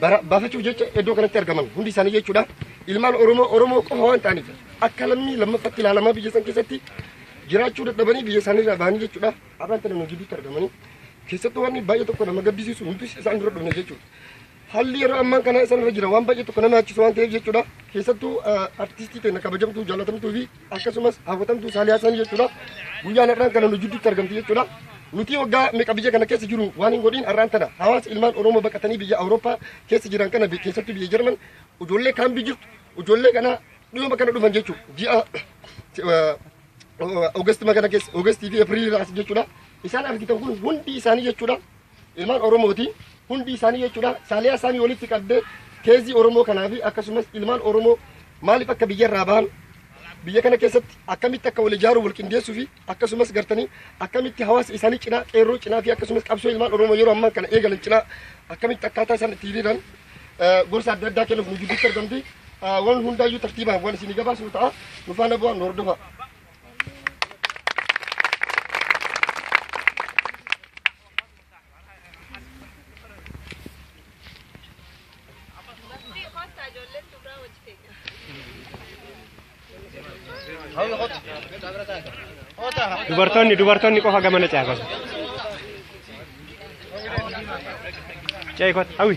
bara- baafachuuf jecha iddoo kanatti argaman hundi isaanii jechuudha. Ilmaan Oromoo Oromoo qofa waan ta'aniif akka lammii lammaffatti ilaalamaa biyya san keessatti jiraachuu dadhabanii biyya isaanii irraa bahanii jechuudha. Har'aan tana nu gidduutti argamanii keessattuu wanni baay'ee tokko nama gaddisiisu nuti isaan dura dhufne jechuudha. Haalli yeroo ammaan kana isaan irra jira waan baay'ee tokko nama yaachisu waan ta'eef jechuudha. Keessattuu eh, artistii keenya kabajamtuu jaalatamtuu fi akkasumas haafatamtuu Saaliyaa Sanii jechuudha. Guyyaan har'aan kana nu jidduutti argamti jechuudha. Nuti waggaa meeqa biyya kana keessa jiru waan hin godhin har'aan tana hawaasa ilmaan Oromoo baqatanii biyya Awurooppaa keessa jiran kana bi- keessattuu biyya Jarman ijoollee kaan biyya jirtu ijoollee kana dhiyoo kana dhufan jechuudha. Ji'a eh, Oogasti magana keessa Oogasti fi April as jechuudha. Isaan argitan kun hundi isaanii jechuudha. Ilmaan Oromooti hundi isaanii jechuudha saaliyaa isaanii walitti qabdee teezii Oromoo kanaa fi akkasumas ilmaan Oromoo maaliif akka biyyarraa bahan biyya kana keessatti akkamitti akka wal ijaaruu wal qindeessuu fi akkasumas gartanii akkamitti hawaasa isaanii cinaa qeerroo cinaa fi akkasumas qabsoo ilmaan Oromoo yeroo ammaa kana eegalan cinaa akkamitti akkaataa isaan itti hiriiran eh, gorsa adda addaa kennuuf nu gidduutti argamti. Eh, Waan hundaayyuu tartiibaan waan isinii gabaasnu ta'a. Nu faana bu'aa nu hordofaa. Dubartoonni dubartoonni qofa gamana ce'a gosa. Ce'i kot hawwi.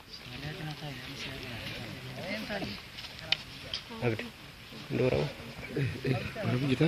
Abdi. Dora. Dora kita.